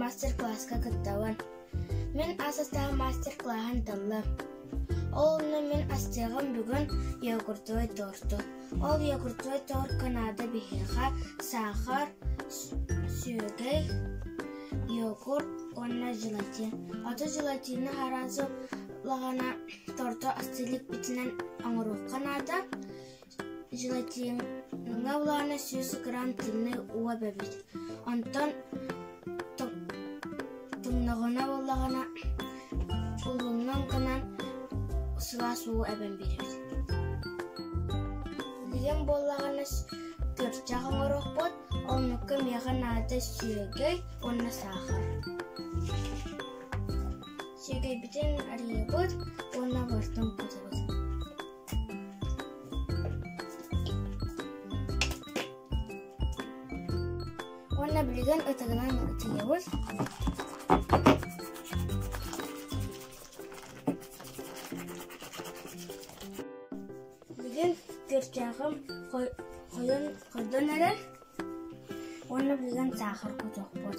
мастер-класска кыттабын. Мин ас астаах мастер-клааһын таллым. Ол онно мин астыаҕым бүгүн йогуртовый торту. Ол йогуртовый торт Канада биһиэхэ саахар, сүөгэй, йогурт уонна желатин. Ото желатины араасыл лаҕана торто asti иликпитинэн оҥоруохха наада. Желатиҥҥа улаана сүүс грамм тымныы уо эбэбит. Онтон тымныҕына буоллаҕына, кулуннан гынан сылаас уу эбэн биэрэр. Билэн буоллаҕына, тырчах оҥорохпут, оннукка миэхэ наада сүөгэй уонна саахар. Сүөгэйбитин арыйабыт уонна выртын кутабыт. Уонна билигин ытыгынан ытыйабыз. Бүгүн төрчээҕим хойон көрдөн эрэр уонна билигин саахарга тохпут.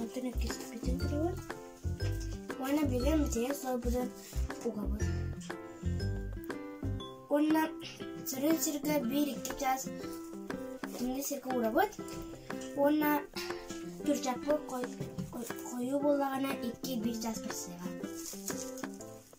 Онтон эргиспитин туругар уонна билем дьиэ солбудан угабын. Уонна сырын сиргэ биир-икки чаас инде сиргэ урабыт. Уонна түрчаппы хою боллагана икки-бир чаас көрсеҕа.